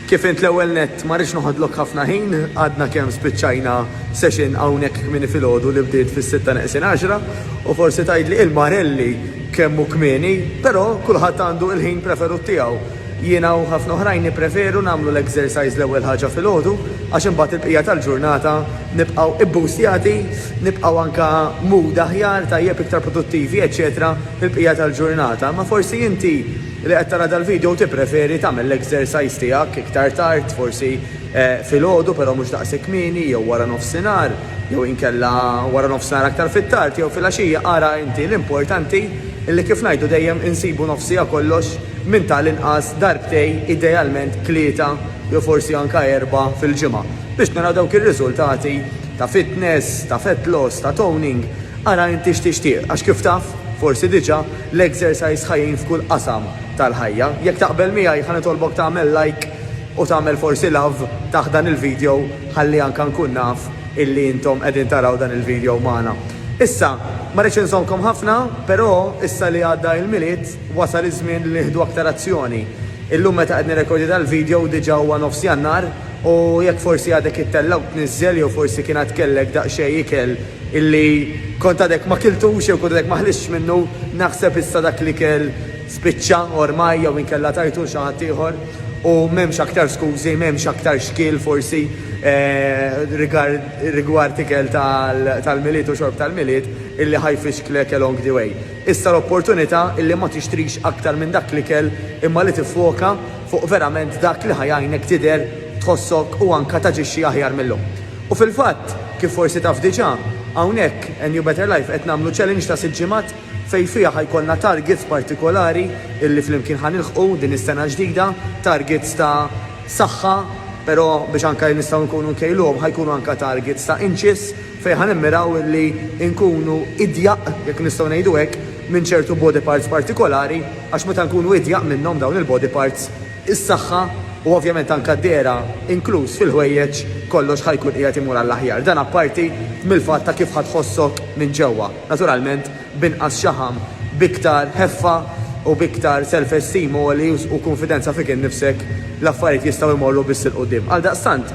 Kif int l-ewwel nett ma rridx noħodlok ħafna ħin, għadna kemm spiċċajna session hawnhekk kmieni filgħodu li bdiet fis-sitta neqsin għaxra u forsi tgħidli il-marelli kemm hu kmieni, però kulħadd għandu il-ħin preferut tiegħu. Jiena u ħafna oħrajn nippreferu nagħmlu l-exercise l-ewwel ħaġa filgħodu għax imbagħad il-bqija tal-ġurnata nibqgħu ibbustjati, nibqgħu anke mood aħjar, tajjeb, iktar produttivi, eċċetera fil-bqija tal-ġurnata. Imma forsi inti. Li qed tara dal-video u tippreferi tagħmel l-exercise tiegħek iktar tard, forsi filgħodu però mhux daqs kmieni jew wara nofsinhar jew inkella wara nofsinhar aktar fit-tard jew filgħaxija ara inti l-importanti li kif ngħidu dejjem insibu nofsiha kollox minn tal-inqas darbtej idealment tlieta jew forsi anke erbgħa fil-ġimgħa biex naraw dawk ir-riżultati ta' fitness, ta' fat loss, ta' toning ara inti x'tixtieq għax kif taf forsi diġà L-exercise ħa jgħin f'kull qasam tal-ħajja. Jekk taqbel miegħi ħa nitolbok tagħmel like u tagħmel forsi love taħt dan il-video ħalli anka nkun naf illi intom qegħdin taraw dan il-video magħna. Issa, ma rridx inżommkom ħafna, però issa li għadda il-Milied wasal iż-żmien li nieħdu aktar azzjoni. Illum meta qed nirrekordja dal-video diġa huwa nofs Jannar u jekk forsi għadek ittellgħu tniżżel jew forsi kien għad kellek daqsxejn ikel Illi kont għadek ma kiltux jew kont għadek ma ħlistx minnu, naħseb issa dak l-ikel spiċċa ormai jew inkella tajtu 'l xi ħadd ieħor u m'hemmx aktar skużi, m'hemmx aktar xkiel forsi rigard rigward ikel tal-Milied u xorb tal-Milied illi ħa jfixklek along the way. Issa l-opportunità illi ma tixtrix aktar minn dak l-ikel imma li tiffoka fuq verament dak li ħa jgħinek tidher, tħossok u anka taġixxi aħjar mil-lum. U fil-fatt, kif forsi taf diġà, hawnhekk, A New Better Life, qed nagħmlu challenge ta' sitt ġimgħat fejn fiha ħa jkollna targets partikolari illi flimkien ħa nilħqu din is-sena l-ġdida, targets ta' saħħa, però biex anke nistgħu nkunu nkejluhom ħa jkunu anke targets ta' inches fejn ħa nimmiraw illi nkunu idjaq, jekk nistgħu ngħidu hekk, minn ċertu body parts partikolari għax meta nkunu idjaq minnhom dawn il-body parts, is-saħħa u ovvjament anke d-dehra, inkluż fil-ħwejjeġ, kollox ħa jkun qiegħed imur għall-aħjar. Dan apparti mill-fatt ta' kif ħa tħossok minn ġewwa. Naturalment, b'inqas xaħam, b'iktar ħeffa u b'iktar self-esteem għoli u kunfidenza fik innifsek, l-affarijiet jistgħu jmorru biss 'il quddiem. Għaldaqstant,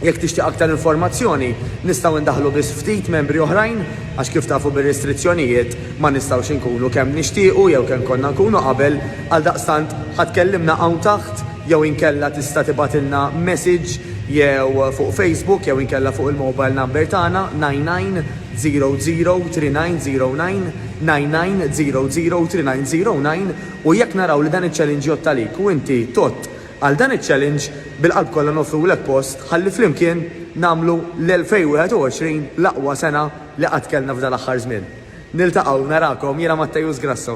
jekk tixtieq aktar informazzjoni, nistgħu ndaħħlu biss ftit membri oħrajn għax kif tafu bir-restrizzjonijiet ma nistgħux inkunu kemm nixtiequ jew kemm konna nkunu qabel, Għaldaqstant ħa tkellimna hawn taħt jew inkella tista' tibgħatilna message jew fuq Facebook jew inkella fuq il-mobile number tagħna 99003909, 99003909, u jekk naraw li dan iċ-challenge jgħodd għalik u inti tgħodd għal dan iċ-challenge, bil-qalb kollha noffrulek post ħalli flimkien nagħmlu l-2021 l-aqwa sena li qatt kellna f'dan l-aħħar żmien. Niltaqgħu, narakom, jiena Mattejus Grasso.